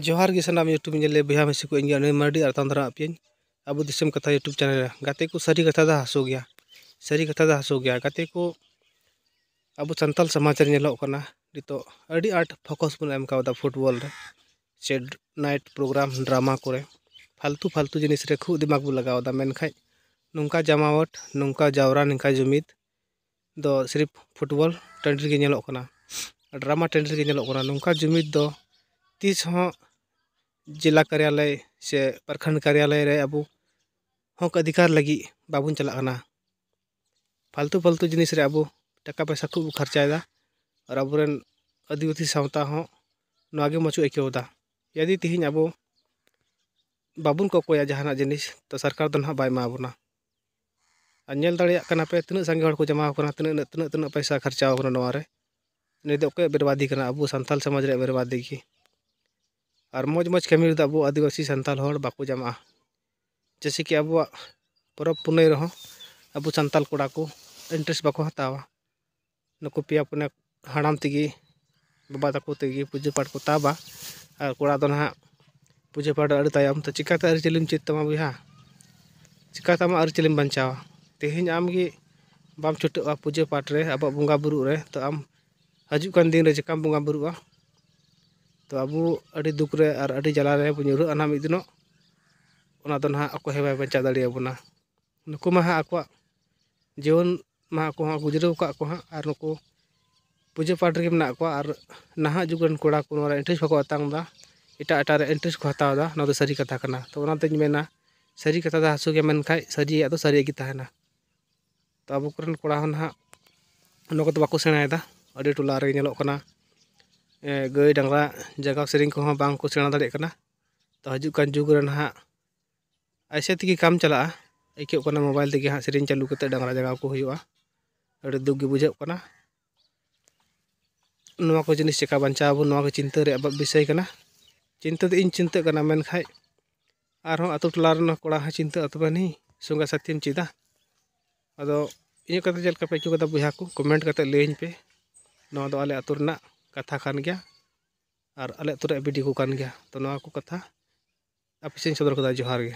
ᱡᱚᱦᱟᱨ ᱜᱮ ᱥᱟᱱᱟᱢ ᱤᱭᱩᱴᱩᱵᱽ ᱧᱮᱞ ᱞᱮ ᱵᱚᱭᱦᱟ ᱢᱤᱥᱤ ᱠᱚ ᱤᱧ ᱟᱹᱱᱟᱹᱭ ᱢᱟᱨᱰᱤ ᱟᱨ ᱛᱟᱱᱫᱨᱟ ᱟᱯᱤᱭᱟᱹᱧ ᱟᱵᱚ ᱫᱤᱥᱚᱢ ᱠᱟᱛᱷᱟ ᱤᱭᱩᱴᱩᱵᱽ ᱪᱮᱱᱮᱞ ᱨᱮ ᱜᱟᱛᱮ ᱠᱚ ᱥᱟᱹᱨᱤ ᱠᱟᱛᱷᱟ ᱫᱚ ᱦᱟᱹᱥᱩ ᱜᱮᱭᱟ ᱥᱟᱹᱨᱤ ᱠᱟᱛᱷᱟ ᱫᱚ ᱦᱟᱹᱥᱩ ᱜᱮᱭᱟ ᱜᱟᱛᱮ ᱠᱚ ᱟᱵᱚ ᱥᱟᱱᱛᱟᱲ ᱥᱚᱢᱟᱡᱽ ᱨᱮ ᱧᱮᱞᱚᱜ ᱠᱟᱱᱟ ᱱᱤᱛᱚᱜ ᱟᱹᱰᱤ ᱟᱸᱴ ᱯᱷᱳᱠᱚᱥ ᱵᱚᱱ ᱮᱢ ᱠᱟᱣᱫᱟ ᱯᱷᱩᱴᱵᱚᱞ ᱨᱮ ᱥᱮ ᱱᱟᱭᱤᱴ ᱯᱨᱳᱜᱨᱟᱢ ᱰᱨᱟᱢᱟ ᱠᱚᱨᱮ ᱯᱷᱟᱞᱛᱩ ᱯᱷᱟᱞᱛᱩ ᱡᱤᱱᱤᱥ ᱨᱮ ᱠᱷᱩᱵᱽ ᱫᱤᱢᱟᱜᱽ ᱵᱚᱱ ᱞᱟᱜᱟᱣᱫᱟ ᱢᱮᱱᱠᱷᱟᱡ ᱱᱚᱝᱠᱟ ᱡᱟᱢᱟᱣᱟᱴ ᱱᱚᱝᱠᱟ ᱡᱟᱣᱨᱟ ᱱᱚᱝᱠᱟ ᱡᱩᱢᱤᱫ ᱫᱚ ᱥᱤᱨᱤᱯ ᱯᱷᱩᱴᱵᱚᱞ ᱴᱟᱺᱰᱤ ᱨᱮᱜᱮ ᱧᱮᱞᱚᱜ ᱠᱟᱱᱟ ᱰᱨᱟᱢᱟ ᱴᱟᱺᱰᱤ ᱨᱮᱜᱮ ᱧᱮᱞᱚᱜ ᱠᱟᱱᱟ ᱱᱚᱝᱠᱟ ᱡᱩᱢᱤᱫ ᱫᱚ ᱛᱤᱥ ᱦᱚᱸ ᱡᱮᱞᱟ ᱠᱟᱨᱭᱟᱞᱚᱭ ᱥᱮ ᱯᱨᱚᱠᱷᱚᱸᱰ ᱠᱟᱨᱭᱟᱞᱚᱭ ᱨᱮ ᱟᱵᱚ ᱦᱚᱸᱠ ᱚᱫᱷᱤᱠᱟᱨ ᱞᱟᱹᱜᱤᱫ ᱵᱟᱵᱚᱱ ᱪᱟᱞᱟᱜ ᱠᱟᱱᱟ ᱯᱷᱟᱞᱛᱩ ᱯᱷᱟᱞᱛᱩ ᱡᱤᱱᱤᱥ ᱨᱮ ᱟᱵᱚ ᱴᱟᱠᱟ ᱯᱚᱭᱥᱟ ᱠᱷᱩᱵ ᱵᱚᱱ ᱠᱷᱚᱨᱪᱟᱭᱮᱫᱟ ᱟᱨ ᱟᱵᱚ ᱨᱮᱱ ᱟᱹᱫᱤᱵᱟᱹᱥᱤ ᱥᱟᱶᱛᱟ ᱦᱚᱸ ᱱᱚᱣᱟᱜᱮ ᱢᱚᱡᱽ ᱠᱚ ᱟᱹᱭᱠᱟᱹᱣᱫᱟ ᱡᱩᱫᱤ ᱛᱮᱦᱤᱧ ᱟᱵᱚ ᱵᱟᱵᱚᱱ ᱠᱚᱠᱚᱭᱟ ᱡᱟᱦᱟᱱᱟᱜ ᱡᱤᱱᱤᱥ ᱛᱚ ᱥᱚᱨᱠᱟᱨ ᱫᱚ ᱦᱟᱸᱜ ᱵᱟᱭ ᱮᱢᱟ ᱵᱚᱱᱟ ᱟᱨ ᱧᱮᱞ ᱫᱟᱲᱮᱭᱟᱜ ᱠᱟᱱᱟ ᱯᱮ ᱛᱤᱱᱟᱹᱜ ᱥᱟᱸᱜᱮ ᱦᱚᱲ ᱠᱚ ᱡᱚᱢᱟᱣ ᱠᱟᱱᱟ ᱛᱤᱱᱟᱹᱜ ᱤᱱᱟᱹᱜ ᱛᱤᱱᱟᱹᱜ ᱛᱤᱱᱟᱹᱜ ᱯᱚᱭᱥᱟ ᱠᱷᱚᱨᱪᱟᱣ ᱠᱟᱱᱟ ᱱᱚᱣᱟ ᱨᱮ ᱱᱩᱭ ᱫᱚ ᱚᱠᱚᱭᱟᱜ ᱵᱮᱨᱵᱟᱫᱤ ᱠᱟᱱᱟ ᱟᱵᱚ ᱥᱟᱱᱛᱟᱲ ᱥᱚᱢᱟᱡᱽ ᱨᱮᱭᱟᱜ ᱵᱮᱨᱵᱟᱫᱤ ᱜᱮ ᱟᱨ ᱢᱚᱡᱽ ᱢᱚᱡᱽ ᱠᱟᱹᱢᱤ ᱨᱮᱫᱚ ᱟᱵᱚ ᱟᱹᱫᱤᱵᱟᱹᱥᱤ ᱥᱟᱱᱛᱟᱲ ᱦᱚᱲ ᱵᱟᱠᱚ ᱡᱚᱢᱟᱜᱼᱟ ᱡᱮᱭᱥᱮ ᱠᱤ ᱟᱵᱚᱣᱟᱜ ᱯᱚᱨᱚᱵᱽ ᱯᱩᱱᱟᱹᱭ ᱨᱮᱦᱚᱸ ᱟᱵᱚ ᱥᱟᱱᱛᱟᱲ ᱠᱚᱲᱟ ᱠᱚ ᱤᱱᱴᱟᱨᱮᱥᱴ ᱵᱟᱠᱚ ᱦᱟᱛᱟᱣᱟ ᱱᱩᱠᱩ ᱯᱮᱭᱟ ᱯᱩᱱᱭᱟ ᱦᱟᱲᱟᱢ ᱛᱮᱜᱮ ᱵᱟᱵᱟ ᱛᱟᱠᱚ ᱛᱮᱜᱮ ᱯᱩᱡᱟᱹ ᱯᱟᱴ ᱠᱚ ᱛᱟᱵᱟ ᱟᱨ ᱠᱚᱲᱟ ᱫᱚ ᱱᱟᱦᱟᱜ ᱯᱩᱡᱟᱹ ᱯᱟᱴ ᱟᱹᱰᱤ ᱛᱟᱭᱚᱢ ᱛᱮ ᱪᱤᱠᱟᱹᱛᱮ ᱟᱹᱨᱤᱪᱟᱹᱞᱤᱢ ᱪᱮᱫ ᱛᱟᱢᱟ ᱵᱚᱭᱦᱟ ᱪᱤᱠᱟᱹᱛᱮ ᱟᱢᱟᱜ ᱟᱹᱨᱤᱪᱟᱹᱞᱤᱢ ᱵᱟᱧᱪᱟᱣᱟ ᱛᱮᱦᱮᱧ ᱟᱢᱜᱮ ᱵᱟᱢ ᱪᱷᱩᱴᱟᱹᱜᱼᱟ ᱯᱩᱡᱟᱹ ᱯᱟᱴ ᱨᱮ ᱟᱵᱚᱣᱟᱜ ᱵᱚᱸᱜᱟ ᱵᱳᱨᱳᱜ ᱨᱮ ᱛᱚ ᱟᱢ ᱦᱤᱡᱩᱜ ᱠᱟᱱ ᱫᱤᱱᱨᱮ ᱪᱤᱠᱟᱹᱢ ᱵᱚᱸᱜᱟ ᱵᱳᱨᱳᱜᱼᱟ ᱛᱚ ᱟᱵᱚ ᱟᱹᱰᱤ ᱫᱩᱠ ᱨᱮ ᱟᱨ ᱟᱹᱰᱤ ᱡᱟᱞᱟ ᱨᱮᱵᱚᱱ ᱧᱩᱨᱦᱟᱹᱜᱼᱟ ᱱᱟᱦᱟᱜ ᱢᱤᱫ ᱫᱤᱱᱚᱜ ᱚᱱᱟ ᱫᱚ ᱱᱟᱦᱟᱜ ᱚᱠᱚᱭ ᱦᱚᱸ ᱵᱟᱭ ᱵᱟᱧᱪᱟᱣ ᱫᱟᱲᱮᱭᱟᱵᱚᱱᱟ ᱱᱩᱠᱩ ᱢᱟ ᱦᱟᱸᱜ ᱟᱠᱚᱣᱟᱜ ᱡᱤᱭᱚᱱ ᱢᱟ ᱟᱠᱚ ᱦᱚᱸ ᱜᱩᱡᱽᱨᱟᱹᱣ ᱟᱠᱟᱫ ᱟᱠᱚ ᱦᱟᱸᱜ ᱟᱨ ᱱᱩᱠᱩ ᱯᱩᱡᱟᱹ ᱯᱟᱴ ᱨᱮᱜᱮ ᱢᱮᱱᱟᱜ ᱠᱚᱣᱟ ᱟᱨ ᱱᱟᱦᱟᱜ ᱡᱩᱜᱽ ᱨᱮᱱ ᱠᱚᱲᱟ ᱠᱚ ᱱᱚᱣᱟ ᱨᱮ ᱤᱱᱴᱟᱨᱮᱥᱴ ᱵᱟᱠᱚ ᱟᱛᱟᱝ ᱮᱫᱟ ᱮᱴᱟᱜ ᱮᱴᱟᱜ ᱨᱮ ᱤᱱᱴᱟᱨᱮᱥᱴ ᱠᱚ ᱦᱟᱛᱟᱣ ᱮᱫᱟ ᱱᱚᱣᱟ ᱫᱚ ᱥᱟᱹᱨᱤ ᱠᱟᱛᱷᱟ ᱠᱟᱱᱟ ᱛᱳ ᱚᱱᱟᱛᱤᱧ ᱢᱮᱱᱟ ᱥᱟᱹᱨᱤ ᱠᱟᱛᱷᱟ ᱫᱚ ᱦᱟᱹᱥᱩ ᱜᱮᱭᱟ ᱢᱮᱱᱠᱷᱟᱡ ᱥᱟᱹᱨᱤᱭᱟᱜ ᱫᱚ ᱥᱟᱹᱨᱤ ᱜᱮ ᱛᱟᱦᱮᱱᱟ ᱛᱳ ᱟᱵᱚ ᱠᱚᱨᱮᱱ ᱠᱚᱲᱟ ᱦᱚᱸ ᱱᱟᱦᱟᱜ ᱚᱱᱟ ᱠᱚᱫᱚ ᱵᱟᱠᱚ ᱥᱮᱬᱟᱭᱮᱫᱟ ᱟᱹᱰᱤ ᱴᱚᱞᱟ ᱨᱮᱜᱮ ᱧᱮᱞᱚᱜ ᱠᱟᱱᱟ ᱜᱟᱹᱭ ᱰᱟᱝᱨᱟ ᱡᱟᱜᱟᱣ ᱥᱮᱨᱮᱧ ᱠᱚᱦᱚᱸ ᱵᱟᱝ ᱠᱚ ᱥᱮᱬᱟ ᱫᱟᱲᱮᱭᱟᱜ ᱠᱟᱱᱟ ᱛᱳ ᱦᱤᱡᱩᱜ ᱠᱟᱱ ᱡᱩᱜᱽ ᱨᱮ ᱱᱟᱦᱟᱜ ᱮᱭᱥᱮ ᱛᱮᱜᱮ ᱠᱟᱢ ᱪᱟᱞᱟᱜᱼᱟ ᱟᱹᱭᱠᱟᱹᱜ ᱠᱟᱱᱟ ᱢᱳᱵᱟᱭᱤᱞ ᱛᱮᱜᱮ ᱦᱟᱸᱜ ᱥᱮᱨᱮᱧ ᱪᱟᱹᱞᱩ ᱠᱟᱛᱮᱫ ᱰᱟᱝᱨᱟ ᱡᱟᱜᱟᱣ ᱠᱚ ᱦᱩᱭᱩᱜᱼᱟ ᱟᱹᱰᱤ ᱫᱩᱠ ᱜᱮ ᱵᱩᱡᱷᱟᱹᱜ ᱠᱟᱱᱟ ᱱᱚᱣᱟ ᱠᱚ ᱡᱤᱱᱤᱥ ᱪᱤᱠᱟᱹ ᱵᱟᱧᱪᱟᱣ ᱟᱵᱚᱱ ᱱᱚᱣᱟ ᱠᱚ ᱪᱤᱱᱛᱟᱹ ᱨᱮᱭᱟᱜ ᱵᱤᱥᱚᱭ ᱠᱟᱱᱟ ᱪᱤᱱᱛᱟᱹ ᱫᱚ ᱤᱧ ᱪᱤᱱᱛᱟᱹᱜ ᱠᱟᱱᱟ ᱢᱮᱱᱠᱷᱟᱡ ᱟᱨᱦᱚᱸ ᱟᱛᱳ ᱴᱚᱞᱟ ᱨᱮᱱ ᱠᱚᱲᱟ ᱦᱚᱸ ᱪᱤᱱᱛᱟᱹ ᱛᱚᱵᱮ ᱟᱹᱱᱤᱡ ᱥᱚᱸᱜᱮ ᱥᱟᱛᱷᱤᱢ ᱪᱮᱫᱟ ᱟᱫᱚ ᱤᱧᱟᱹᱜ ᱠᱟᱛᱷᱟ ᱪᱮᱫ ᱞᱮᱠᱟ ᱯᱮ ᱟᱹᱭᱠᱟᱹᱣ ᱠᱮᱫᱟ ᱵᱚᱭᱦᱟ ᱠᱚ ᱠᱚᱢᱮᱱᱴ ᱠᱟᱛᱮᱫ ᱞᱟᱹᱭᱟᱹᱧ ᱯᱮ ᱱᱚᱣᱟ ᱫᱚ ᱟᱞᱮ ᱟᱛᱳ ᱨᱮᱱᱟᱜ ᱠᱟᱛᱷᱟ ᱠᱟᱱ ᱜᱮᱭᱟ ᱟᱨ ᱟᱞᱮ ᱟᱹᱛᱩ ᱨᱮᱭᱟᱜ ᱵᱤ ᱰᱤ ᱳ ᱠᱟᱱ ᱜᱮᱭᱟ ᱛᱚ ᱱᱚᱣᱟ ᱠᱚ ᱠᱟᱛᱷᱟ ᱟᱯᱮ ᱥᱮᱫ ᱤᱧ ᱥᱚᱫᱚᱨ ᱠᱮᱫᱟ ᱡᱚᱦᱟᱨ ᱜᱮ